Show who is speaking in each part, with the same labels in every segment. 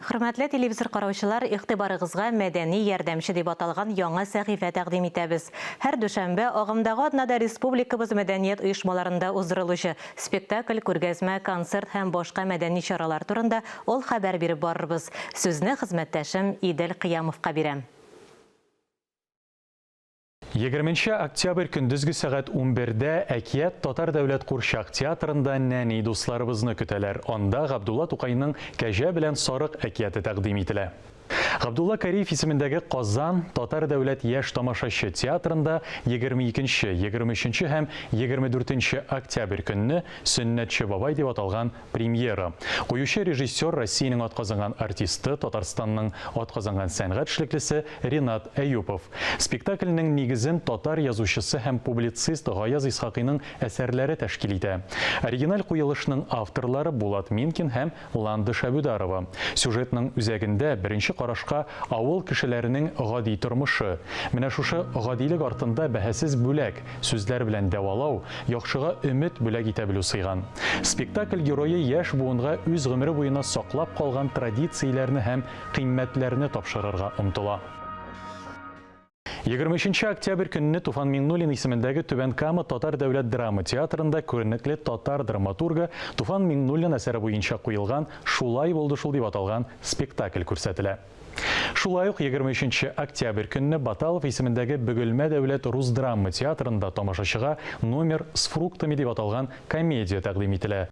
Speaker 1: Хөрмәтле телевизор караучылар, игътибарыгызга Мәдәни ярдәмче дип аталган яңа сәхифә тәкъдим итәбез. Һәр дүшәмбе, агымдагы атнада республикабыз мәдәният оешмаларында уздырылучы спектакль, күргәзмә, концерт һәм башка мәдәни чаралар турында ул хәбәр биреп барырбыз. Сүзне хезмәттәшем Идел Кыямовка бирәм.
Speaker 2: Егерменче октябрь көндезге сәгать унбердә Әкият татар дәүләт курчак театрында нәни дусларыбызны көтәләр, анда Габдулла Тукайның Кәҗә белән сарык әкияте тәкъдим ителә. Габдулла Кариев исемендәге Казан татар дәүләт яшь тамашачы театрында егерме икенче, егерме өченче һәм егерме дүртенче октябрь көнне Сөннәтче бабай дип аталган Премьера. Куючы режиссер, Россиянең атказанган артисты, Татарстанның атказанган сәнгать эшлеклесе Ренат Әюпов. Спектакльнең нигезен татар язучысы һәм публицист Гаяз Исхакыйның әсәрләре тәшкил итә. Оригиналь куелышның авторлары Булат Минкин һәм Ландыш Әбүдарова. Сюжетның үзәгендә, беренче карашка, авыл кешеләренең гади тормышы. Менә шушы гадилек артында бәһасез бүләк, Сүзләр белән дәвалау, яхшыга өмет бүләк итә белү сыйган. Спектакль герое яшь буынга үз гомере буена саклап калган традицияләрне һәм кыйммәтләрне тапшырырга омтыла. Егерме өченче октябрь көнне Туфан Миңнуллин исемендәге Түбән Кама татар дәүләт драма театрында күренекле татар драматургы Туфан Миңнуллин әсәре буенча куелган Шулай булды шул дип аталган спектакль күрсәтелә. Шулай ук егерме өченче октябрь көнне Баталов исемендәге Бөгелмә дәүләт рус драма театрында тамашачыга Номер с фруктами дип аталган комедия тәкъдим ителә.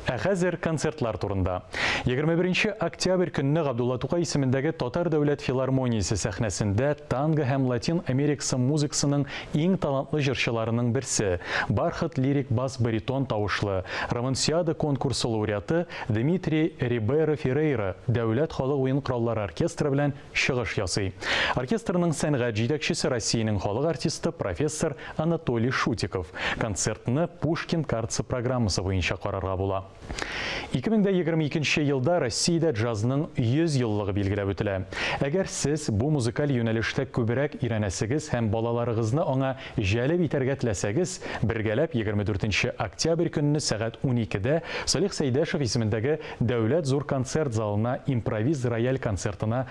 Speaker 2: Ә хәзер концертлар турында. Егерме беренче октябрь көнне Габдулла Тукай исемендәге Татар дәүләт филармониясе сәхнәсендә танго һәм латин америкасы музыкасының иң талантлы җырчыларының берсе, Бархат лирик бас-баритон тавышлы, Романсиада конкурсы лауреаты Дмитрий Рибейро Феррейра Дәүләт халык уен кораллары оркестры белән чыгыш ясый. Оркестрның сәнгать җитәкчесе Россиянең халык артисты, профессор Анатолий Шутиков. Концертны Пушкин картасы программасы буенча карарга була. 2022 нче елда Россиядә джазның 100 еллыгы билгеләп үтелә. Әгәр сез бу музыкаль юнәлештә күбрәк өйрәнәсегез һәм балаларыгызны аңа җәлеп итәргә теләсәгез, бергәләп 24 нче октябрь көнне сәгать 12 дә Салих Сәйдәшев исемендәге Дәүләт зур концерт залына импровиз рояль концертына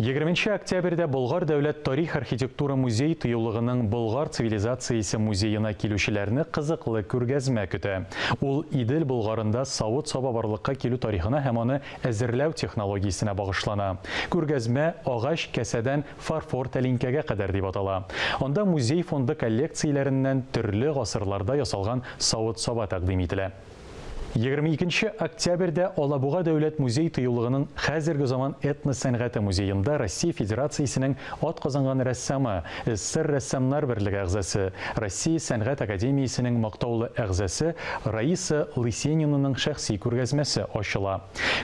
Speaker 2: Егерме нче октябрьдә Болгар дәүләт тарих-архитектура музей-тыюлыгының Болгар цивилизациясе музеена килүчеләрне кызыклы күргәзмә көтә. Ул Идел Болгарында савыт-саба барлыкка килү тарихына һәм аны әзерләү технологиясенә багышлана. Күргәзмә Агач касәдән фарфор тәлинкәгә кадәр дип атала. Анда музей фонды коллекцияләреннән төрле гасырларда ясалган савыт-саба тәкъдим ителә. Егерме икенче октябрьдә Алабуга дәүләт музей-тыюлыгының Хәзерге заман этнос сәнгате музеенда Россия Федерациясенең атказанган рәссамы, СССР Рәссамнар берлеге әгъзасы, Россия Сәнгать академиясенең мактаулы әгъзасы Раиса Лысенинаның шәхси күргәзмәсе ачыла.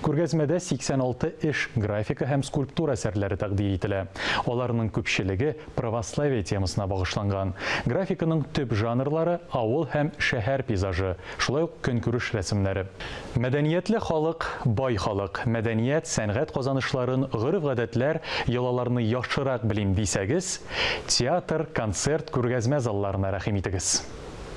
Speaker 2: Күргәзмәдә 86 эш, графика һәм скульптура әсәрләре тәкъдир ителә. Аларның күпчелеге Православие темасына багышланган. Графиканың төп жанрлары, авыл һәм шәһәр пейзажы, шулай ук көнкүреш рәсемнәре. Мәдәниятле халык, бай халык. Мәдәният, сәнгать казанышларын, гореф-гадәтләр, йолаларны яхшырак белим дисәгез, театр, концерт, күргәзмә залларына рәхим итегез.